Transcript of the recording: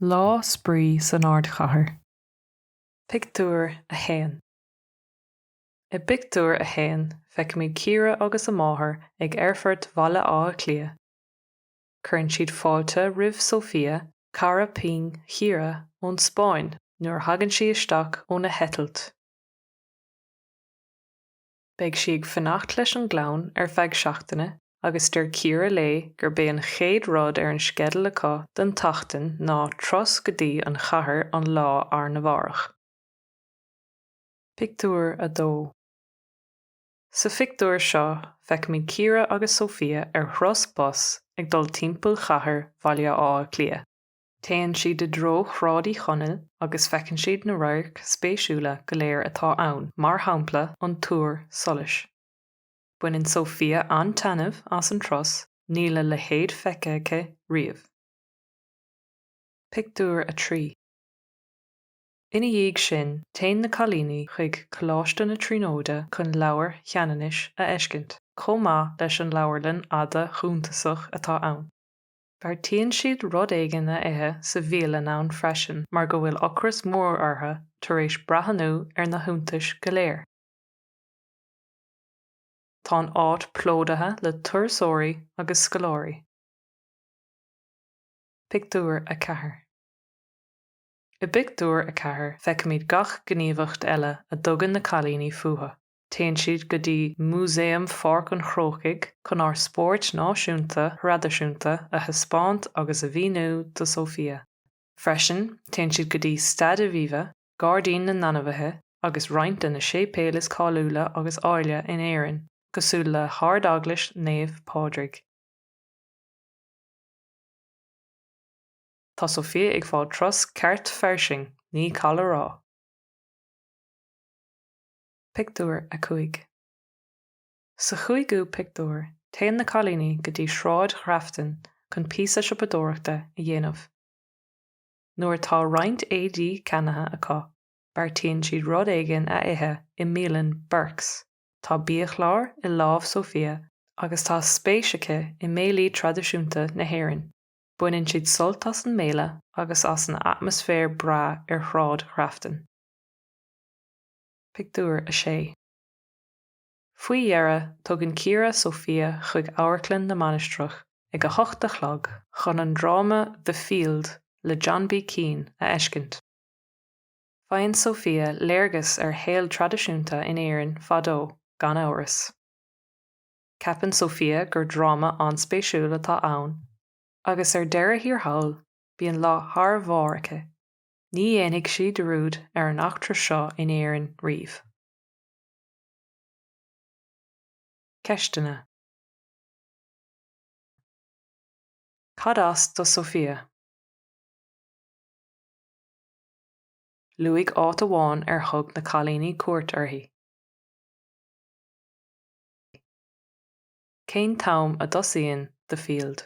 Lá spraoi san Ardchathair. Pictiúr 1 I bpictiúr a haon feicimid Ciara agus a máthair ag Aerfort Bhaile Átha Cliath. Cuireann siad fáilte roimh Sofía, cara pinn Chiara, ón Spáinn nuair a thagann sí isteach óna heitilt. Beidh sí ag fanacht leis an gclann ar feadh seachtaine agus deir Ciara léi gurb é an chéad rud ar an sceideal acu don tseachtain ná turas go dtí an chathair an lá arna mhárach. Pictiúr 2 Sa phictiúr seo feicimid Ciara agus Sofia ar thuras bus ag dul timpeall chathair Bhaile Átha Cliath. Téann siad i dtreo Shráid Uí Chonaill agus feiceann siad na radhairc spéisiúla go léir atá ann, mar shampla an Túr Solais. Baineann Sofía an-taitneamh as an turas, níl a leithéid feicthe aici riamh. Pictiúr 3 Ina dhiaidh sin, téann na cailíní chuig Coláiste na Tríonóide chun Leabhar Cheanannais a fheiscint, chomh maith leis an leabharlann fhada shuntasach atá ann. Beartaíonn siad rud éigin a ithe sa bhialann ann freisin mar go bhfuil ocras mór orthu tar éis breathnú ar na hiontais go léir. Tá an áit plódaithe le turasóirí agus scoláirí. Pictiúr 4 I bpictiúr a ceathair feicimid gach gníomhaíocht eile a dtugann na cailíní fúthu. Téann siad go dtí Músaem Pháirc an Chrócaigh chun ár spóirt náisiúnta thraidisiúnta a thaispeáint agus a mhíniú do Sofía. Freisin, téann siad go dtí Staid Aviva, Gairdín na nAinmhithe agus roinnt de na séipéil is cáiliúla agus áille in Éirinn, cosúil le hArd-Eaglais Naomh Pádraig. Tá Sofía ag fáil turas ceart fairsing, ní call a rá! Pictiúr 5 Sa chúigiú pictiúr, téann na cailíní go dtí Sráid Ghrafton chun píosa siopadóireachta a dhéanamh. Nuair atá roinnt éadaí ceannaithe acu, beartaíonn siad rud éigin a ithe i mbialann Burke's. Tá biachlár i lámh Sofía agus tá spéis aici i mbéilí traidisiúnta na hÉireann. Baineann siad sult as an mbéile agus as an atmaisféar breá ar Shráid Ghrafton. Pictiúr 6 Faoi dheireadh, tugann Ciara Sofía chuig Amharclann na Mainistreach ag a hocht a chlog chun an dráma The Field le John B. Keane a fheiscint. Faigheann Sofía léargas ar shaol traidisiúnta in Éirinn fadó, gan amhras. Ceapann Sofía gur dráma an-spéisiúil atá ann agus ar deireadh thiar thall, bíonn lá thar barr aici. Ní dhéanfaidh sí dearmad ar an eachtra seo in Éirinn riamh. Ceisteanna Cad as do Sofía? Luaigh áit amháin ar thug na cailíní cuairt uirthi. Cén t-am a dtosaíonn The Field?